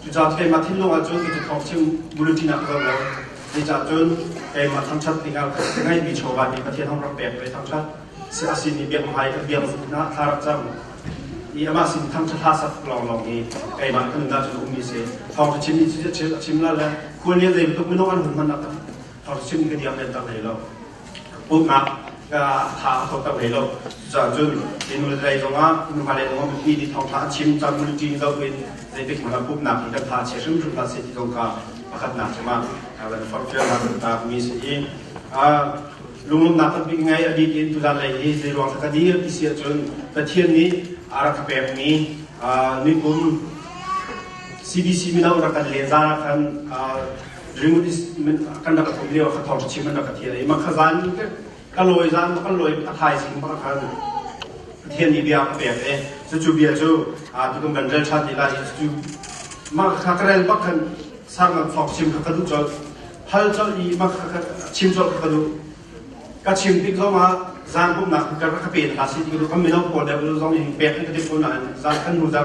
Cucaah keimah thinlung ahcun hicu thawng chim Buruti nak ka zoh lo. Zeicah cun keimah thangṭhat dingah ngeihmi chawva nih Pathian hong rak pek ve thangṭhat si a simi biak hmai kan biak hna thla rak cam i amah sin thangṭhat hla sak lawnglawng hi keimah kan nunah cun ummi si thawng cu chim i a chim la le khual nih zei bantuk minung an hun hman a tam thawng cu chim ka diam len tak hlei lo pumhnak ṭha a thawk hlei lo. Cuahcun minu le hlei zongah, nufale zongah mipi nih thawngṭha a chim, caan mulṭin zoh in zeitik hmanh ah pumhnak hi kan tha chia hrimhrim hlah seh ti zong kha pakhatnak cungah kan forhfialnak kan taakmi si i lunglawmhnak kan pek ngai a bik in tutan lei hi zeiruang dah ka dir ti si ahcun Pathian nih a rak ka pekmi nikum CBC mino rak kan len zan ah khan kan rak tuk lio ka thong chim na ka thia i makha zan te ka loi zan ka loi ka thai sing ba ka pathian ni bia ka pek e su chu bia chu a tu kan rel tha ti la hi su ma ka karel bak kan sang ngang thok chim ka du chol hal chol i ma ka chim chol ka du ka chim tik zong a zan bum na ka ka pe na si ti ka du kan mi no ko le zong in pek kan ka dip ko na zan kan nu da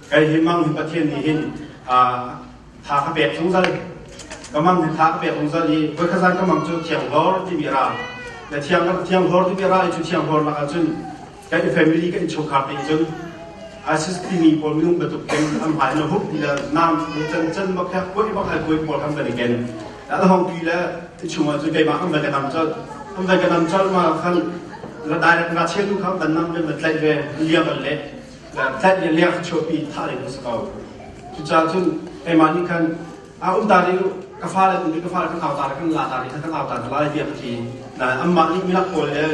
Kei hi mang hi Pathian nih hin thla ka pek zungzal ka mang hi thla ka pek zungzal i voikhat ka mang cu thiang hlor timi ra na thiang kan thiang hlor timi ra cu thiang hlor lakah cun kan family kan chungkhar te cun asis timi pawl minung batuk ken an hmai na hup ila nam na chan chan ma kha koi bak ai koi pawl kan bani ken da hong tui la chungwa cu kai ma kan bani nam chal kan bani nam chal ma kan la direct ra chelu kham dan nam be ma tlai ve liam le tlanh le liang chuahpi thah ding a si ko. Cucaah cun keimah nih khan a um ta rih ka fale tu ka fale kan au ta kan la ta rih kan au ta lai tiah ka ti na amma nih milak pawl le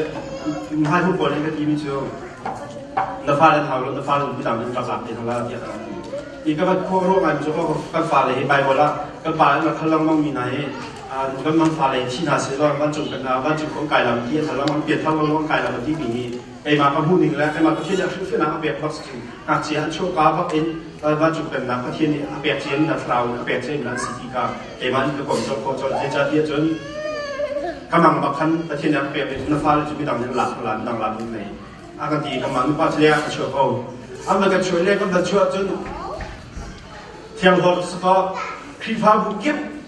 mahai hu pawl nih ka ti mi cu na fale hau lo na fale nu dang in ka zak te hla tiah ka ti i ka bat khua ro ngai mi ko kan fale hi bible ah kan pa na khal lang mang mi na hi kan mang fale thi na se lo van cung kan na van cung kong kai lam ti hla mang pian thau lang kai lam ti mi keimah ka hmuhning le keimah Pathian nih hrimhrimnak a pek bak si in ngakchia an chuahka bak in vancung pennak Pathian nih a pek ciin na thlarau in a pek ciin an si ti ka keimah nih ka kom colh khawh colh hi ca ti ahcun ka mang bak khan Pathian nih a pek mi cu na fale cu midang nih lak lan dang lan in nei a kan ti ka mang nupa chle a ka chuah ko an ban kan chuah le kan ban chuah cun thiang hlor sakaw Khrihfabu kip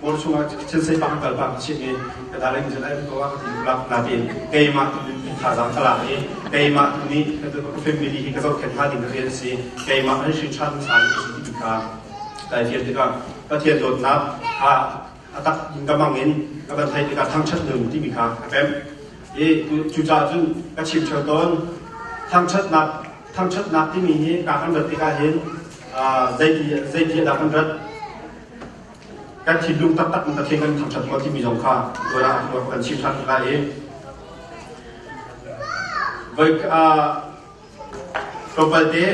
Paul chungah thil seifang an kal bang chim i ka dal in zan ko ah ka ti natin keimah tu in thazaang ka lak i keimah tu nih ka family hi ka zohkhenh hna ding rian si keimah an hrin ṭhan sa ni si ti ka kai fian tikah Pathian dawtnak kha a tak in ka mang in ka van thai tikah thangṭhat nun timi kha a pem i cucaah cun ka chim theo tawn thangṭhatnak thangṭhatnak timi hi ka kan rat tikah hin zeiti zeiti dah kan rat kan thinlung taktak in Pathian kan thangṭhat rua timi zong kha tuan ah kan chim ṭhan hna i voi tlawmpalte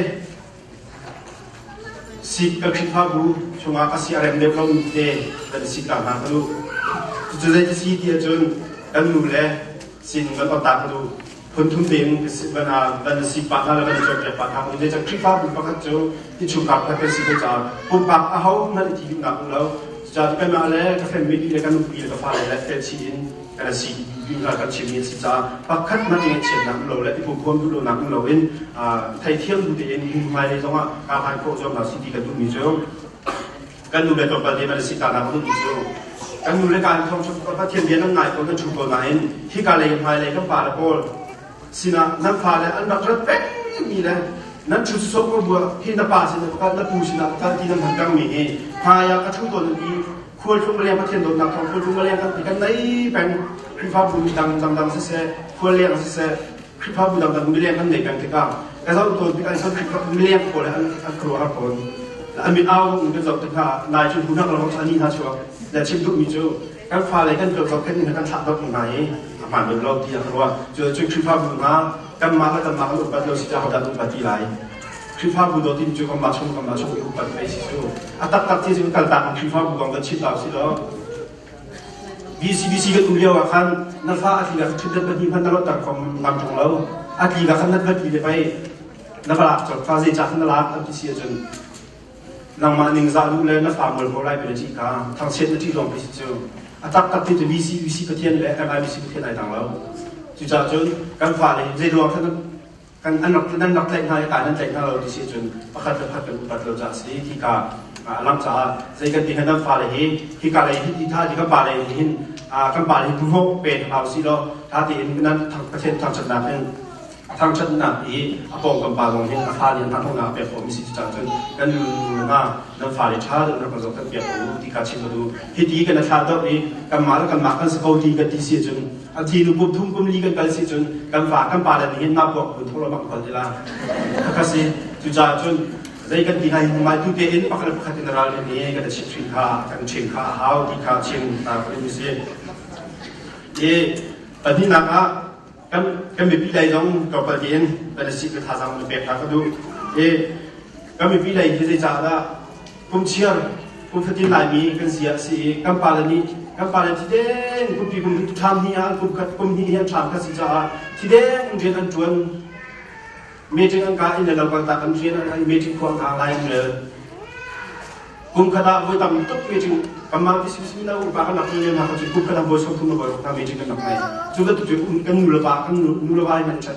sik ka khrihfa bu chungah ka si a rem deuh lomi te kan si ta hna ka lu cucu zei ka si ti ahcun kan nu le sining kan otak ka lu phunthum tein van a si pah hna le van a cuanpiak pah hna hnu ni cang Khrihfabu pakhat cu innchungkhar pakhat kan si ko caah pumpak ahohmanh i thitumnak um lo cucaah tu keimah le ka family le kan nupi le ka fale le felchih in kan si kan chimmi a si caah pakhat hmanh ngaihchiatnak um lo le i pumhuam duh lonak um lo in theithiam bu tein hmunhmai lei zongah kaa han khawh zuam hna si ti kan duhmi cu kan nu le tlawmpal te an si tanak a ummi cu kan nu le ka in thawngṭha pathian bia nan ngai ko nan thu ko nain hika lei hmai lei kan pa le pawl sinah nan fa le an rak rat pengmi le nan thu sok rua hi na pa sinah kal na pu sinah kal ti nan han ṭangmi hi hmai ah ka thu tawn i khualtlung leng pathian dawtnak thawng khualtlung leng kan ti kan nei peng khrihfabu mi dang dang dang siseh khual leng siseh Khrihfa budak an miliang an nei peng tikah ka zoh tawn tikah cun Khrihfa miliang pawl an an khuaruahhar fawn. An mit au in kan zoh tik hna nai cu hnunak lo an ni hna chuak na chim duhmi cu kan fale kan tuan kan nih kan thlah dot hna i a hmaan bem lo tiah ka ruah cu cu Khrihfa bu hna kan mah le kan mah kan upat lo si caah hodah upat ti lai Khrihfa bu dawt in cu kan mah chung kan mah chung i upat a si cu a taktak ti cu kaltak in Khrihfa bu kong kan chim ta u si law BCBC kan um lio ah khan na fa a tli kha ṭhutdan pahnih hmanh na luatter kho ngam ṭung lo. A tli kha khan na pahnih le pei na va lak cawk fa zeicah na lak an ti si ahcun nangmah ningzah lu le na fa mual ko lai pe ci ka thangchiat na ṭih lawng pe si cu a tak tak te cu BCBC Pathian le MIBC Pathian ai dang lo. Cucah cun kan fa le zeiruang khan kan an rak nan rak tlaih hna i ka nan tlaih hna lo ti si cun pakhat le pakhat kan upat lo caah a si ti ka a lang caah zei kan ti nan fale hi hi ka lei hi tha hi kan pa lei hin kan pa lei hi hnawh pe hna u si law tha tein nan thangthat thangthatnak in thangthatnak i a pawngkam pa zong hin a fa nih an thangnak pek khawh mi si caah cun kan nu nu hna nan fale tha deuh rak zoh kan piak ko u ti ka chim ka duh hi ti kan thlah deuh i kan ma le kan ma kan si ko ti kan ti si cun A thi nu kum thum kum li kan kal si cun kan pa kan pa le nih hin nak kuak kun tholo bang kol tila a ka si cu ca cun zei kan ti lai mai tu te in pakhat pakhat in ral ne kan chim thin kha kan chim kha a hau ti kha chim ta ko ni si e pahnih nak ah kan kan mipi dai zong ka pal tin kan si ka tha zang pek ta ka du e kan mipi dai hi zei ca da kum chiar kum fatin laimi kan sia a si i kan pale nih kan pale thiden kumpi kum ṭham hi ah kum khat kum hnih hi an ṭham kan si caah thiden rian an ṭuan meeting an ka in le lampang tak an rian an meeting kuang hna lai an rel kum khat ah voi tam tuk meeting kamang ti sim sim na upa kan nak ni na ka kum khat ah voi som thum na voi na meeting kan nak mai cu ka tu um kan nu le ba kan nu le ba man chan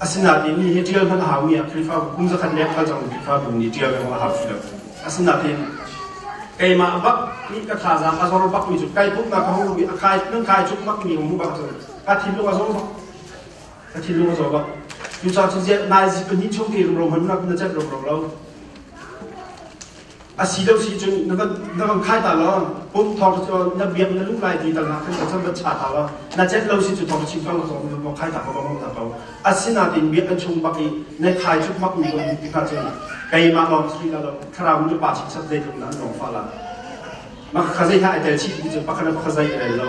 Asinain ni hi ṭial hmanh a haumi ah Khrihfabu kum zakhat leng kal cangmi Khrihfabu nih ṭial kong a hau si lo. Asinain keimah bak nih ka thazaang a zor bakmi cu kai pumhnak ka hung luh i a kai nan kai cuk bakmi ka hmuh bak cun ka thinlung a zor bak. Ka thinlung a zor bak. Cucaah cu naizit pahnih chung te rumro hmannak na celh rumro lo. a si lo si cun na van khai ta law pump thawng cu na biak na luh lai ti tal na kan chan va cha ta law na chet lo si cu thawng chim ko ko ko khai ta ko ko ta ko asinain biak kan chung bak i na khai chuk mak ni ko ti ka cun keimah lawng sri la lo thlarau nu pa chim sat dei tlung nan lawng fa la ma kha zai ha tel chi ti cu pakana kha zai rel lo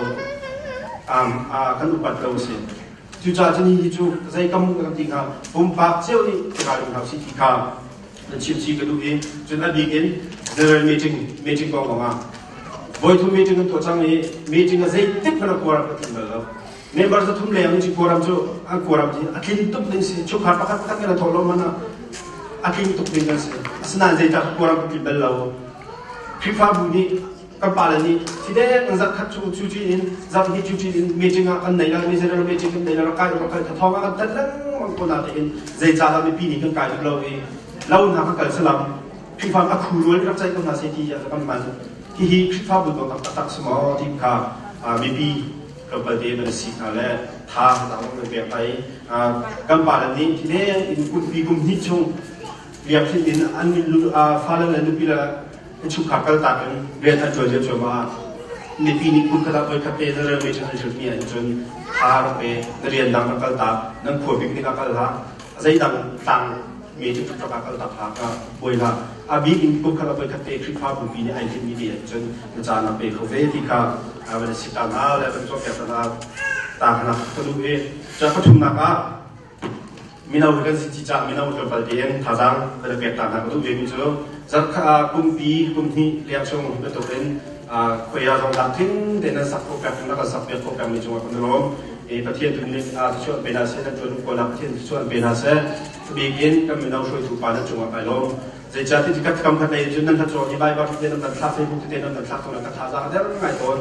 am a kan upat lo si cu cha chini ni chu zai kam kan ti ka pumpak cheu ni ka lung hau si ti ka an chimchih ka duh i cun a bik in general meeting meeting kong lawng ah voithum meeting an tuah cang i meeting a zeitik hmanh a kua ram ka tlun bal lo member zathum leng in khuaram cu an khuaram hi a tlin tuk ding si chukha pakhat pakhat kan thawh lo man ah a tling tuk ding kan si asinain zeicah khuaram ka tlin bal lo Khrihfabu nih kan pale nih fidek an zarh khat cu cuci in zarh hi cuci in meeting ah kan nei la mi general meeting kan nei la rak kai rak kai ka thong ah kan tat lengmang ko na te in zei ca dah mipi nih kan kai uk lo i lo hna ka kal salam Khrihfa ka khu rual rak cai ko hna sai ti ya kan man hi hi Khrihfa bu dong tak tak suma ti ka mipi kan palte ban si na le tha dang man pe pai kan pale nih fidek in kum bi kum hni chung riak hin in an min lu fa le nu pi la chungkhar kaltak in rian an ṭuan lio cuahmah ah mipi nih kunkhat ah voikhat te na railway ṭhan an hrilhmi ahhin cun thla rak pe na rian dang rak kaltak nan khua bik nih ah kal hlah zeidang tlang me cu tuk rak ah kaltak hlah ka buai hlah a bik in kunkhat ah voikhat te Khrihfa bupi nih ai hlimmi te ahhin cun na caan ah pe kho ve ti ka van si ta na le van tuah pek na ta hna ka lu hi ca pathumnak ah Mino hi kan si ci cah mino hi kan pal te in thazaang kan i pek ta hna ka duh vemi cu zarhkhat ah kumpi kum hnih liam chung bantuk in khuaia zong dang tling tein an sak khawh pek rak kan sak piak khawh pek mi cungah kan rum i Pathian tu nih thluachuah pe hna seh nan tuan kawl ah Pathian thluachuah pe hna seh tubik in kan mino hruaitu pa nan cungah kai lawm zeicah ti tikhat kam khat ai cun nan hlat cawn i Baibal te nan kan thlak Facebook te nan kan thlak cun ka thazaang a der ngai tawn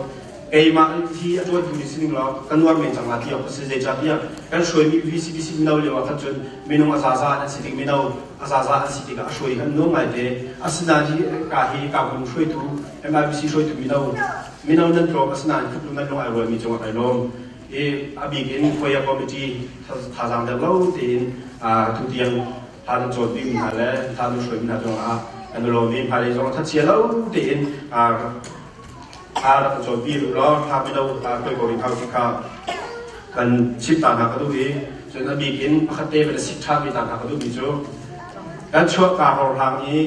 keimah hi a tuantu ni sining lo kan nuar men cang ti awk a si zeicahtiah kan hruaimi VCBC mino lio ah khan cun minung a zaza an si ding mino a zaza an si tikah a hruai kan nuam ngaite asinain hi ka hi kakum hruaitu MIBC hruaitu mino mino nan tlawm asinain khuplu nan lung ai rualmi cungah kai lawm i a bik in foyer committee thazang dang lo tein tutiang han cawn bim hna le han hruaimi hna zong ah kan lawm i hmailei zong thatchia lo tein Thla rak ka cawn pi hnu law thla pe do ta kai ko ring hau ti kha kan chimh ta hna ka duh i cun a bik in pakhat te kan i sik ṭhanmi ta hna ka duhmi cu kan chuah kaa horhlang i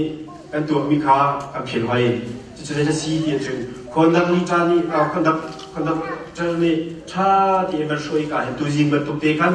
kan tuahmi kha kan philh hoi cucu zeidah si ti ahcun khondak ni ṭa nih khondak khondak ṭal nih ṭha tein kan hruai kaa hin tuzing bantuk te khan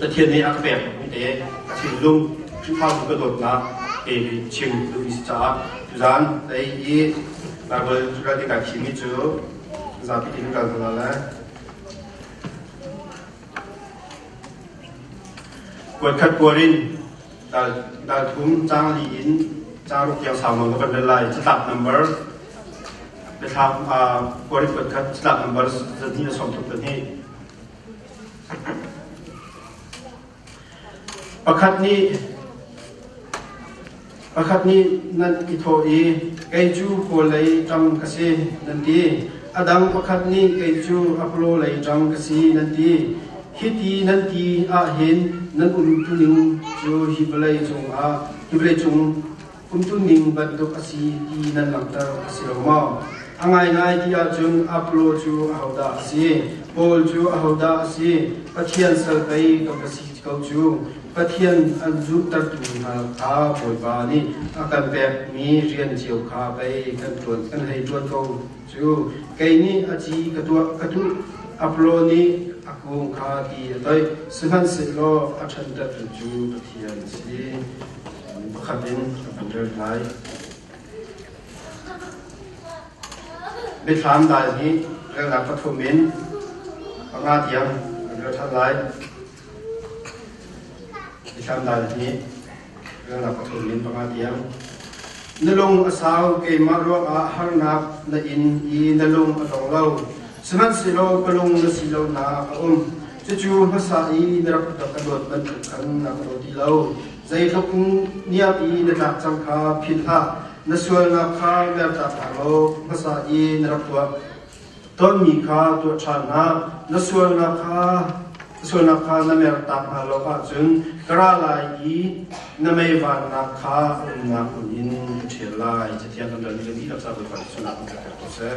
Pathian nih a ka pekmi te ka thinlung Khrihfabu ka dawtnak ke nih chim duh i si caah tuzaan tei i Baibal ral i kai thimi cu zapi in kal hna lai. Kuat khat kuar in dal thum caang li in caang ruk tiang sau nawn na kan rel lai catlap number biathlak kuar i kuat khat catlap number zahnih na sawm tuk pahnih Pakhat nih nan i thawh i, kei cu kawl lei ṭang ka si, nan ti. A dang pakhat nih kei cu apolo lei ṭang ka si, nan ti. Hiti nan ti ahhin nan um tuning cu hi vawlei cungah, hi vawleicung umtuning bantuk a si ti nan langhter a si lo maw? A ngaingai ti ahcun Apollo cu ahodah a si? Paul cu ahodah a si? Pathian sal pei kan ka si ko cu. Pathian an zuhtertu hna kha Bawipa nih a kan pekmi rian cio kha pei kan ṭuan kan hei ṭuan ko cu. Kei nih a ci ka tuah ka duh, Apollo nih a kung kha ti a toih, sihmanhsehlaw a ṭhanṭanhtu cu Pathian a si. pakhat in an rem lai. Mithlam dai nih relnak pathum in panga tiang an rel ṭhan lai. Mithlam dai nih relnak pathum in panga tiang na lung a sau keimah ruangah harnak na in i na lung a tong lo sihmanhsehlaw ka lung na si lo na a um cucu hmasa i na rak ka luat bantuk khan na ka luat ti lo Zeitluk niam i na tlak cang kha philh hlah. Na sualnak kha mertak hna law hmasa i na rak tuah tonmi kha tuah ṭhan hlah. Na sualnak kha sualnak kha na mertak hna lo ahcun ka ra lai i na meivannak kha umnak hmun in ka ṭhial lai. Cathiang kan rel ni kan dihlak ca Bawipa Jesuh nakin ka pek ko seh.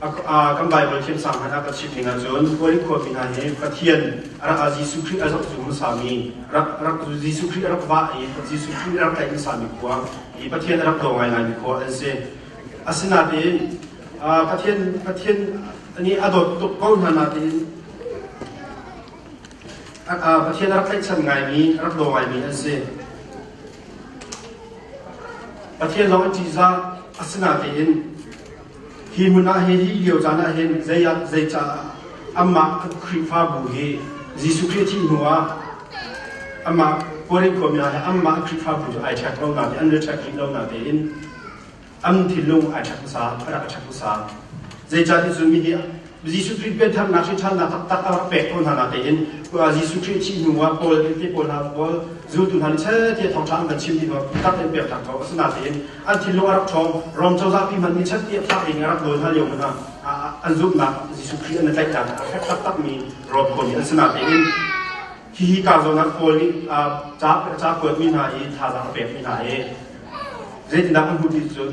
kan Baibal thiamsang hmanh ah ka chim ning ahcun Korin khuami hna hi Pathian a rak Jesuh Khrih a zoh cu hmasami rak rak Jesuh Khrih a rak vah i Jesuh Khrih a rak tlaih hmasami khua i Pathian a rak daw ngaingaimi khua an si asinain Pathian Pathian nih a dawt tuk ko hna nain Pathian a rak tlaihchan ngaimi a rak daw ngaimi an si Pathian lawng a ṭihzah asinain Hi hmun ah hin, hi lio caan ah hin zeicah amah Khrihfabu hi Jesuh Khrih thih hnuah amah Korih khuami ah hin amah Khrihfabu cu ai ṭhek lo natein an rak ṭhek rih lo natein an thinlung ai ṭhek hmasa, a rak i ṭhek hmasa. Zeicahtiah cu mi hi Jesuh Khrih piantharnak hi ṭhannak taktak a rak pek ko hna na tein Jesuh Khrih thih hnu ah Paul tehte pawl hna pawl zultu hna nih sel ti thawngṭha an kan chim ti taktak in pek ko asina tein an thinlung a rak ṭhawng Rom cozah pi hmanh nih chan ti a fak in a rak dawl hna lio hmanh ah an zumhnak Jesuh Khrih an i tlaih dan a fek taktakmi Rom kho nih asina tein hihi ka zawnah Paul nih ca kuatmi hna i thazaang a pekmi hna hi zeitindah an hmuh ti cun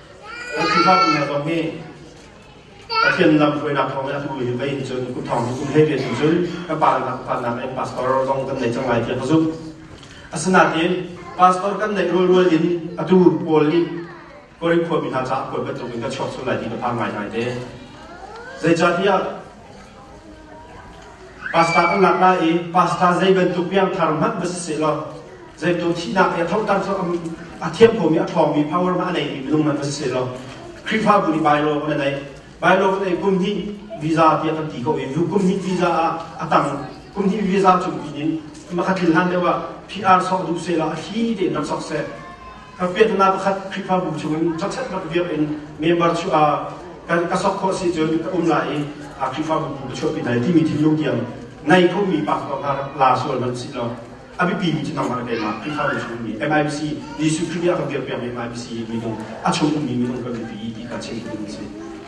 Kan Khrihfabu zong nih Pathian lam hruainak thawng in a hnu hi vei cun kum thawng kum hlei ve cun cun ka pa le ka pa nakin pastor zong kan nei cang lai tiah ka zumh. Asinain pastor kan neih rualrual in atu pawl nih Korin khuami hna caah puan bantuk in ka chuak sual lai ti ka phang ngaingai te. Zeicatiah Pastor kan lak lai i pastor zei bantuk piangthar hmanh va si sehlaw zeipun thihnak i a thoter cu a thianh khomi a ṭhawngmi power ma a neimi minung hmanh va si sehlaw Khrihfabu nih bailo kan i naih. Bailo kan ei kum hnih visa tiah kan ti ko i kum hnih visa ah a tang kum hnih visa cung pin in makhatlin hlan deuh ah PR sawh duh sehla a thli tein rak sok seh. Ka pianhnak pakhat Khrihfabu chungin choksetlak dirh in member chuah ah kan ka sok khawh si cun ka um lai i a Khrihfabu bu ka chuahpi lai timi thinlung tiang ngei khomi pastor hna la sual hmanh si law a biapimi cu nangmah le keimah Khrihfabu chungmi MIBC Jesuh Khrih nih a ka dirpiakmi MIBC minung a chung ummi minung kan biapi i ti ka chim ding a si.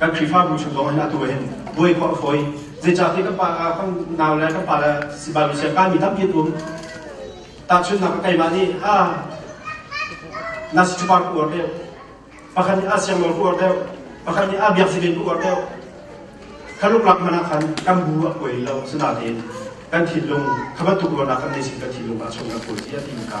Kan Khrihfabu chung zong in atu hin buai khawh a fawi. Zeicahti kan pa kan nau le kan pa le sibal siang ka mi tampi an um. Tahchunhnak ka keimah nih ha na si chupar ku uar deuh. Pakhat nih a siang lor ku uar deuh. Pakhat nih a biak si ku uar deuh. Ka luklak man ah khan kan bu a kuai lo. Sinain kan thinlung kha bantuk ruahnak kan nei sin kan thinlung ah chung kan kuai si a ti ka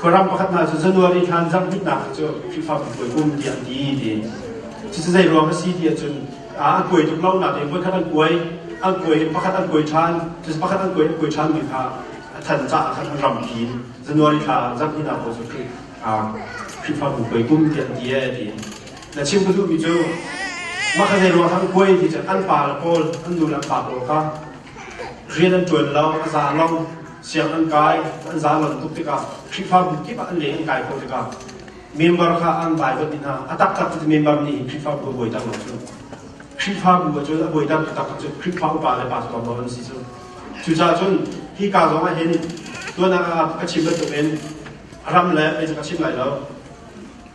Khuaram pakhat hna cu January thla an zarh rihnak cu Khrihfabu puai kum tiah an ti ti. Cucu zei ruang a si ti ahcun an puai tuk lonak in voikhat an puai, an puai pakhat an puai ṭhan, cucu pakhat an puai an puai ṭhanmi kha a than caah khan an rampi in January thla zarh hninak ko cu Khrihfabu puai kum tiah an ti ee ti. Na chim ka duhmi cu mah kha zei ruang khan puai ti cu an pa le pawl, an nu le an pa pawl kha Rian an ṭuan lo, a za lo, sianginn an kai, an za lo tuk tikah Khrihfabu kip ah an leh an kai khawh tikah member kha an baibal dih hna. A taktak cu member nih hin Khrihfabu a buai tak lo cu. Khrihfabu ahcun a buai tak taktak cu Khrihfa upa le pastor dawr an si cu. Cucaah cun hi ka zong ah hin tuahnak ah ka chim bantukin ram le mei cu ka chim lai lo.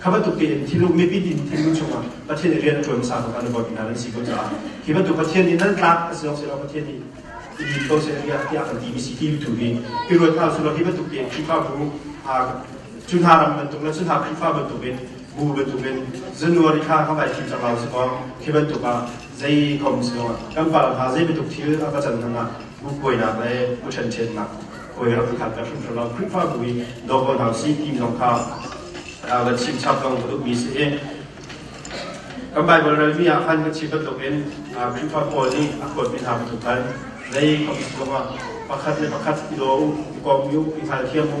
Kha bantuk tein thiluk mipi din thinlung chungah Pathian i rian a ṭuan sang an bawmh hna an si ko caah hi bantuk Pathian nih nan tlak a si lo sehlaw Pathian nih i din ko seh tiah tiah kan ti mi si ti tu hi i ruat hna sulaw hi bantuk tein Khrihfabu cu hna ram bantuk le cu hna Khrihfa bantuk in bu bantuk in zanuari kha ka vai fim cang lo si maw khi bantuk ah Zei kong sihloah kan fale hna zei bantuk thil a ka can hnuah mukkuainak le u ṭhenṭhetnak hawi rak i khat ka hrimhrim lo. Khrihfa bu i daw ko hna sih ti zong kha ka chimchap zong ka duhmi si i kan Baibal relmi ah khan kan chim bantukin Khrihfa pawl nih a kuatmi hna bantuk khan zei kong sihloah pakhat le pakhat i daw u, i kom u, i hngalthiam u.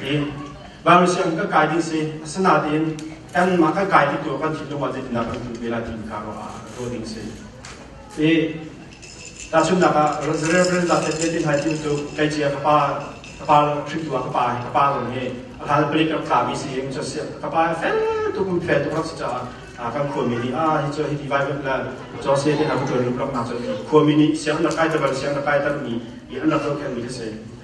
tiin vami siang ka kai ding si asinain kanmah ka kai ding tu kan thin lungah zeitindah kan hmuh ve lai timi kha ruah ah ruah ding si i tahchunhnak ah Reverend Dr. Tetin Hai Tiu cu kai cia ka pa ka pa hrim tua ka pa ka pa zong hi a khan palik rak tla mi si in cho sia ka pa fel tu kun fel tu rak si cha kan khua mi ni a hi cho hi divai mat la cho se te na ku ron rak na cho khua mi ni siang na kai ta bar siang na kai ta mi i an rak zo kan mi se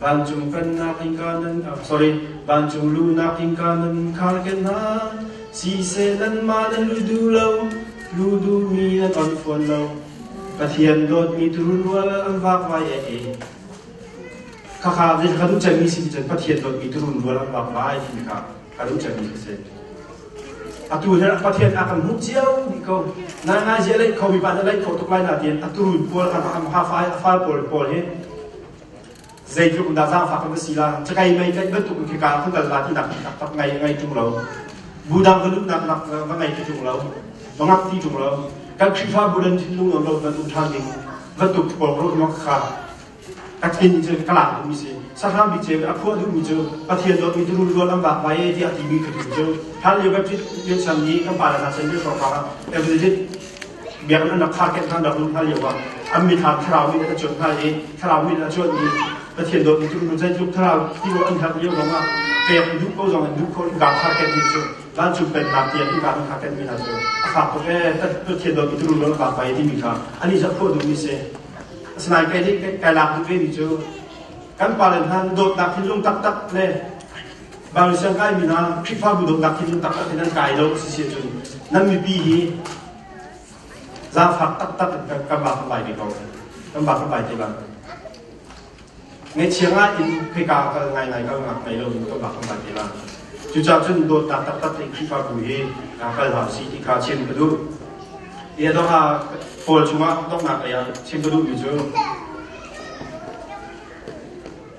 Vancung pennak innka nan sorry vancung lunak innka nan khar ken hna siseh nanmah nan lu du lo lu du mi nan on fawn lo Pathian dawtmi tururual an vakvai e e khakha ne ka du chemi si cun Pathian dawtmi tururual an vakvai ti ka ka du chemi si se atu he Pathian a kan hmuh cio ni ko nai ngai zia lei kho bi ba na lei kho tuk lai na tin aturun pual kan am ha fai afal pawl pawl he Zeitluk dah zaangfak kan si la, cakai mei tlaih bantuk in khika kan kal la ti nak tak ngai ngai ṭung lo. Budang kan um nak nak va ngai ti ṭung lo. Va ngak ti ṭung lo. Kan Khrihfa Budan thin lung nawn lo van um ṭhan ding va tuk pol ro mak kha takin cun kalang mi si sahram bi che a khua du mi cu pathian do mi turun rual am bak vai ti a ti mi khatu cu har le bapit pian sang ni kan para na sen be so ka evangelist biaknak na kha kehlan a hun hna lio ah an mit ha thlarau mit a cuanh hna i thlarau mit a cuanh i Pathian dawt ni cu zeitluk thlarau ti o an herh lio lawng ah pek an duh ko zong an duh ko in kaa kha ken ni cu van cung pennak tiang in kaa kha khen mi hna cu a fak tuk ee Pathian dawt ni tu lu ka pai timi kha an i zat khawh duh mi si asinain kai nih kai lak duh ve mi cu kan palen han dawtnak thinlung taktak le Van le siang kai mi hna Khrihfabu dawtnak hi cu taktak in an kai lo a si si ahcun nan mipi hi zaangfak taktak in kan ba kan bai te ko kan ba kan bai te ba ngaichiang ah in khoi ka kal ngai ngai ka ngak nei lo in kan ba kan bai te ba cucaah cun dawtnak taktak in Khrihfabu hi kal hau si ti kha chim ka duh ia dok ah Paul chungah donghnak lei ah chim ka duh mi cu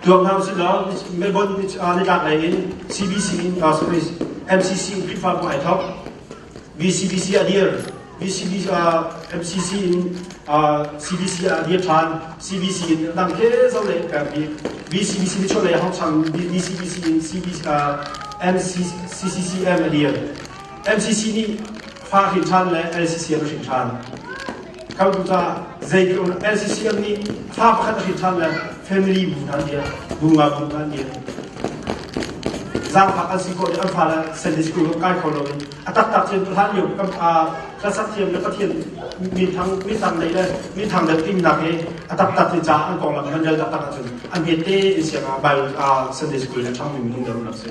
Tuak hna usih law Melbourne nitlak lei in CBC in MCC in Khrihfabu ai thok VCBC a dir VCBC MCC in CBC a dir than CBC in dang ke zo lei per bi VCBC mi chon lei hong chang VCBC in CBC MCCCM a dir MCC nih fa hrin than le LCC a hrin than a khamtu caah zeitluk NCCF nih thla pakhat a hrin ṭhan le family bu hna nih bunga bu hna nih zaangfak an si khawh i an fale Sunday school kan kai kho lo in a taktak thiam hlan lio kan ka sak thiam le pathian minthang minthang lei le minthang le timnak he a taktak ti ca an konglam nan rel taktak ahcun an hette in siang ah Bible Sunday school le thang min hung deuh nak si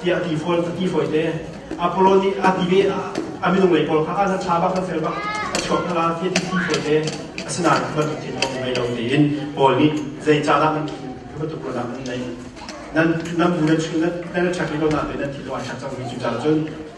tiah ti fawi ti fawi te Apollo nih a ti ve a minung lei pawl kha a nan tha bak nan fel bak a chuak hna ti ti fawi te asinain bantuk thil kong ngei lo tein Paul nih zei ca dah nan bantuk ruahnak nan nei nan nan bu nan chun nan na chak li lo na te nan thi lo a chak cang mi cu ca cun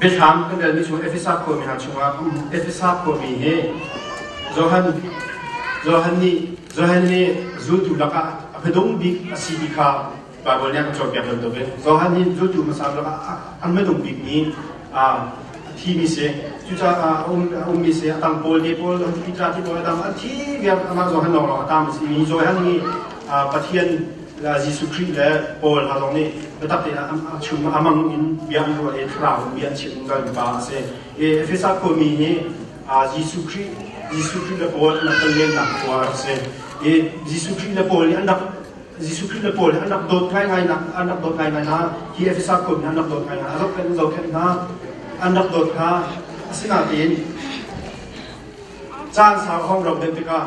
Biathlam kan relmi chung Efesa khuami hna chungah Efesa khuami hi Johan, Johan, nih, Johan nih zultu lakah a biadung bik a si ti kha Baibal nih a kan cawnpiak bantuk in Johan hi zultu hmasa lakah a biadung bik ni a thimi si. Cucaah a um a ummi si a tang pawl te pawl an Peter te pawl a dang a thi viar amah Johan lawng lawng a tang si mi Johan hi Pathian Jesuh Khrih le Paul hna zong nih biatak tein a chung a mang in bia an ruah i thlarau bia an chim ka upa a si. Efesa khuami nih Jesuh Khrih Jesuh Khrih le Paul an rak tonlennak khua a si. I Jesuh Khrih le Paul nih an rak Jesuh Khrih le Paul nih an rak dawt ngaingai nak an rak dawt ngaingai hna hi Efesa khuami nih an rak dawt ngaingai hna a zohkhenh zohkhenh hna an rak dawt hna asinain caan sau a hong rauh den tikah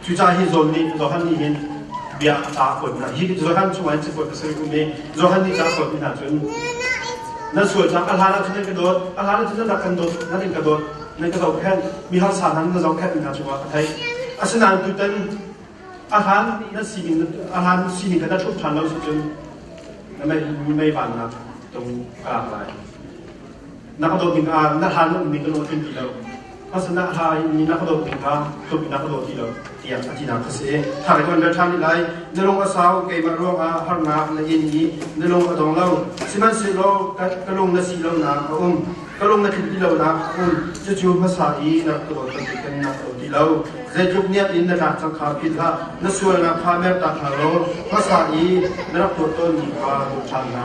Cuca hi John nih Johan nih hin bia a ta kuat hna. Hi Johan chungah hin cakuat ka soi um i Johan nih ca kuat hna cun nan sual cang a hlan ah cun nan ka dawt a hlan ah cun nan rak kan dawt nan in ka dawt nan ka zohkhenh mi harsa hna nan zohkhenh hna cungah ka theih asinain tutan a hlan na sining a hlan sining kan thluk ṭhan lo cu cun na mei mei vannak tung ka lak lai na ka dawt ning ah na hla na ummi ka lungthin ti lo hmasanah hla in na ka dawt ning kha tuk na ka dawt ti lo tiang a tinak ka si thar kan bel than lai na lung a sau keimah ruang ah harnak na in i na lung a dong lo sihmanhsehlaw ka lung na si lo na a um ka lung na thin ti lo na um cucu hmasa i na ka dawt kan kan na ka dawt ti lo zeitluk niat in na tlak cang kha phil hlah na sual na kha mer ta kha lo hmasa i na rak tuat tawn mi kha dawt than na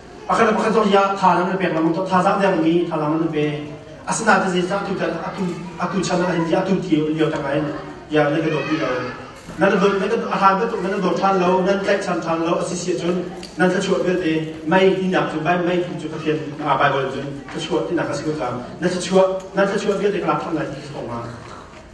Pakhat le pakhat cu ya thazaang an pek lengmang thazaang dengmi thazaang an pe. Asinain zeicah atu atu chan ah hin atu lio tang ah hin ya nan ka dawt ti lo. Nan dawt nan a hlan bantuk nan dawt ṭhan lo nan tlaihchan ṭhan lo a si si ahcun nan thluachuah vialte mei tinak cu mei tu cu Pathian Baibal cun thluachuah tinak a si ko cang. Nan thluachuah nan thluachuah vialte ka lak ṭhan lai ti ko hnga.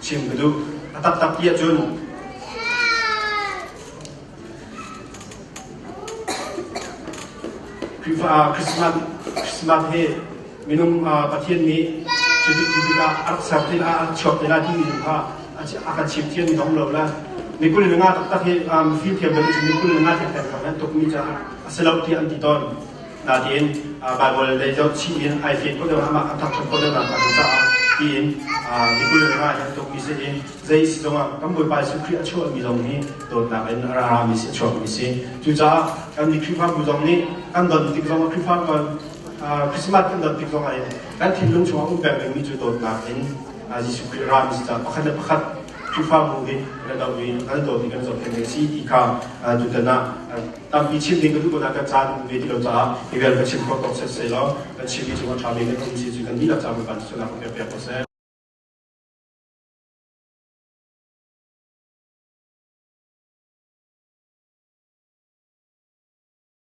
chim ka duh. A taktak ti ahcun Khrihfa Christmas, Christmas hi minung uh, Pathian nih cutik cutik ah a rak ser tin ah a chuak tin ah timi tu kha a kan chim thiam mi dong lo la mikul nenga taktak hi um, fim thiam berin mikul nenga thek thek kan tuk mi caah a si lo ti an ti ton Nain Baibal lei deuh chim in ai fian ko deuh amah a thangṭhat ko deuh nain a zung caah tiin Mikulh le nga hi a tukmi si i zei si zongah kan Bawipa Jesuh Khrih a chuahmi zong hi dawtnak in a rami si a chuakmi si. Cucaah kan nih Khrihfabu zong nih kan don tik zongah Khrihfa Christmas kan don tik zongah in kan thinlung chungah um peng dingmi cu dawtnak in Jesuh Khrih rami si caah pakhat le pakhat Khrihfabu hi kan doh i kan dawt i kan zohkhenh a si ti kha tutan ah Tampi chim ding ka duh ah ka caan ve ti lo caah hi vial ka chim kho ko set sei law ka chim mi cu a ṭha ve ka tum si cu kan dihlak caah kan sunak ka pek ko seh.